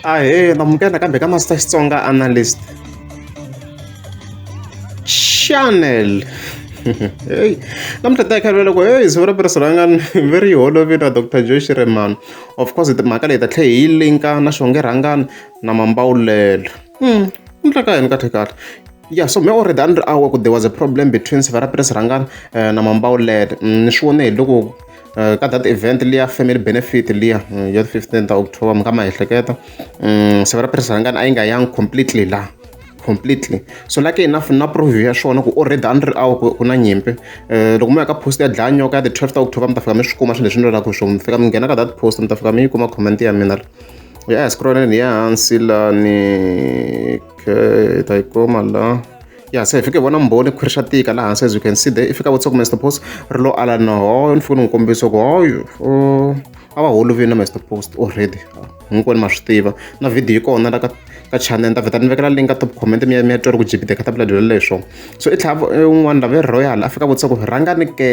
ahee namukela nakambe ka master xitsonga analyst channel heyi namuntlha ta khalwa loko heyi siku ra piriso ra nga ve ri yi holovini ra dr josh reman of course mhaka leyi ta tlhe hi linka na xonge rhangani na mambawulelo hmm, namuntlha ka yini kahle kahle ya so me already a ni ri awa ku there was a problem between siva ra piriso rhangani eh, na mambawulelo hmm, ni swi vone hi loko Eh, ka that event liya family benefit liya eh, ya 15 ta october mi ka ma ehleketa mm, siku ra presidentangani a yi nga yangi completely la completely so like enough na proview ya swona ku already a ni ri awu ku na nyimpi um loko mi ya ka post ya dlaya nyoka ya the 12 ta october mi ta fika mi swi kuma swilo leswi ni lolaka hi swona mi fika mi nghena ka that post mi ta fika mi yi kuma comment ya mina ri ya hi scrolleni ya hansi lani okay ta yi kuma la ya se hi fike hi vona mbhoni ku ri swa tika laha hansi as you can see there i fika vutisa ku Mister Post ri lo ala na hoyo ni fike ni n'wi kombisa ku hoyo a va holovini na Mister Post already hinkwenu ma swi tiva na video yi kona la ka ka channel ta vheta ni vekela link ka top comment mi ya mi ya twa ri ku jibide ka tabula dyelo leswo so i tlhava un'wana lava royal a fika vutisa ku rhangani ke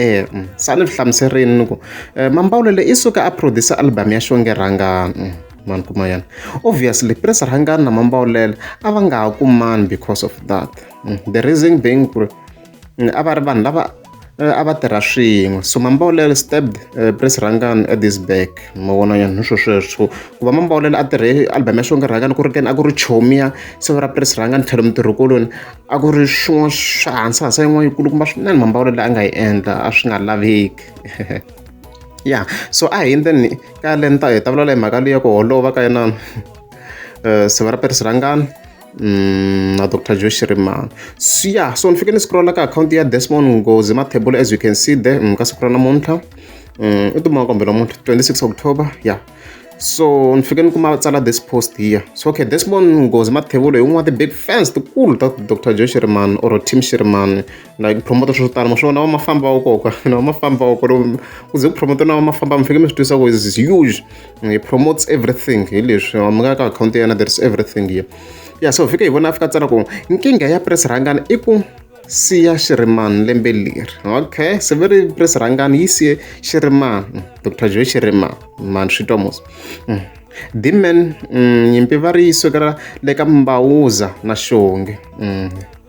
sa ni swi hlamuserini ni ku mambawulele i suka a producer album ya xonge rhangani mani kuma yana obviously prince rhangani na mambawulela a va nga ha kumani because of that mm, the reason being ku ri mm, a va ri vanhu lava eh, a va tirha swin'we so mambawulela stabbed eh, prince rhangani at this back ma vona yani swo sweswo ku va mambawulela a tirhe album ya xonge rhangani ku ri keni a ku ri chomiya siva ra prince rhangani tlhelo mutirhikoloni a ku ri swin'wana swa hansi hansi yin'wana yikulu kumba swinene mambawulela a nga yi endla a swi nga laveki ya so a hi endleni ka le ni ta hi ta vulavula hi mhaka leyi ya ku holova ka yena siva ra perisi rangani Mm, na dr joe shirimani so ya so ni fike ni scrolla ka akhawunti ya desmond ngozi mathebula as you can see there mm, ka siku ra namuntlha mm, i tuma kombela muntlha 26 october ya yeah. so ni fike ni kuma tsala this post here so okay desmond ngozi mathebula hi un'wana wa ti-big fans tikulu ta dr joe shirimani or team shirimani like ku promote swilo swo tala maswi vona va mafamba va koka na va mafamba va kore ku ze ku promote na va mafamba mi fike mi swi twisa ku is huge he promotes everything hi leswi mi nga ka akhawunti ya yena there is everything here ya so fike hi vona a fika tsala ku nkingha ya press rhangana i ku siya xirimani lembe leri okay se ve ri press rhangana yi siye xirimani dr joe xirimani mani swi twa mos mm. dimen mm, nyimpi va ri yi sukela le ka mbawuza na xonge mm.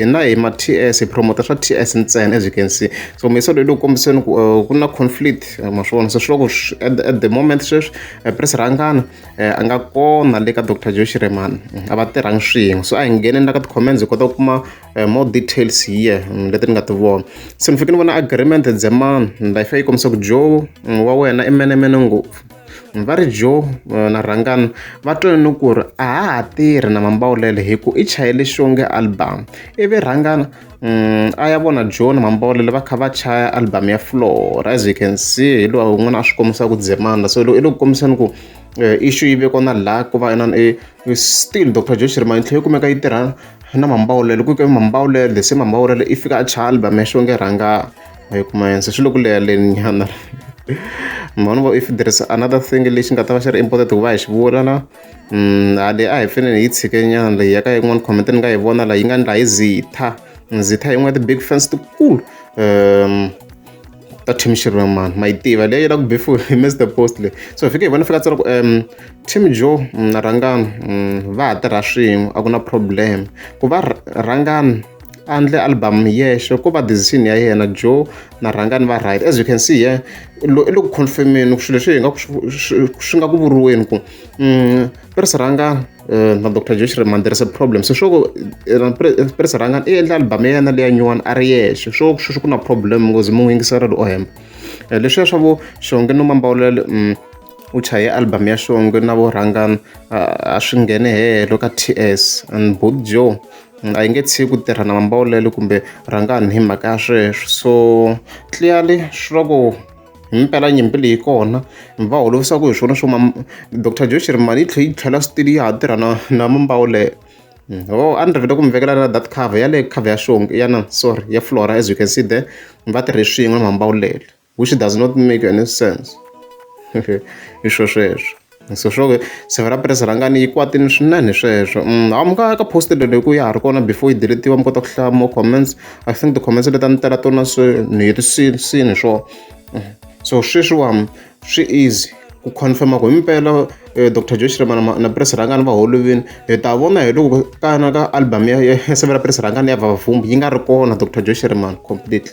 hina hi ma TS hi promoter swa TS ntsena as you can see so mesa loyi loko kombiseni ku eh, ku na conflict eh, ma swona so swiloko at the moment sweswi eh, pres rhangana a nga kona le ka dr joe shiremani a va tirhangi swin'we so a hi ngheneni la ka ti-comments hi kota ku kuma more details here mm, leti ni nga ti vona se ni fike ni vona agreement dzemani life yi kombisa ku joe mm, wa wena i menemene ngopfu va ri Joe na Rhangani va twe ni ku ri a ha ha tirhi na Mambawulele hi ku i chayele xonge album ivi Rhangana a ya vona Joe na Mambawulele va kha va chaya album ya Floor as you can see hi lowa un'wana a swi kombisa ku dzemana so i le ku kombiseni ku issue yi ve kona la ku va inana i still Doctor Joe Shirima yi tlhela yi kumeka yi tirha na Mambawulele ku ke Mambawulele se Mambawulele i fika a chaya album ya xonge Rhangani. a yi kuma hense swi le ku leha leni nyana ma vona if there is another thing lexi nga ta va xi ri important ku va hi xi vula la mm, a leyi a hi fanele hi tshike nyana leyi ya ka yin'wana comment ni nga yi vona la yi nga ni laha yi zitha zitha yin'wana ya ti-big fans tikulu um ta team xirhamana ma yi tiva leyi la ku before hi mr post le so fike hi vona fika tsara ku um team joe mm, na rhangani mm, va ha tirha swin'we a ku na problem ku va rhangani a ndle album hi yexe ko va decision ya yena joe na rhanga ni va right as you can see here i le ku confirmeni ku swilo leswi hi nga swi nga ku vuriweni ku mm, pirisi rhanga eh, na dr joe shirman there is a problem se swo ku eh, pirisi rhanga i endla album ya yena leya nyuwana a ri yexe swo sweswi ku na problem ngozi mu n'wi yingisela ri o hemba eh, leswiya swa vo xonge no mambawulele mm, u chaye album ya xonge na vo rhangana a swi nghene hehelo ka ts and both joe a yi nge tshiki ku tirha na mambaulelo kumbe rhangani hi mhaka ya sweswo so clearly swi va ku himpela nyimpi leyi kona mi va holovisaka hi swona swo ma dr josh ri mali yi tlhe yi tlhela switili ya ha tirha na na mambawulelo hmm. o a ni rivele ku mi vekela na that cover ya le cover ya xongi ya na sorry ya flora as you can see there mi va tirhe swin'we mambawulelo which does not make any sense i swo sweswo so swo se va ra press rhangani yi kwatini swinene sweswo mm, ha mi ka ka post lelo hi ku ya ha ri kona before yi deletiwa mi kota ku hlaya more comments i think ti-comments leti a ni tela tona se ni herisini sini swo mm. so sweswiwani swi easy ku confirma ku himpela um eh, dr josh remana na press rhangani va holovini hi ta vona hi loko kana ka album ya sevela press rhangani ya vavavumbi yi nga ri kona dr josh remana completely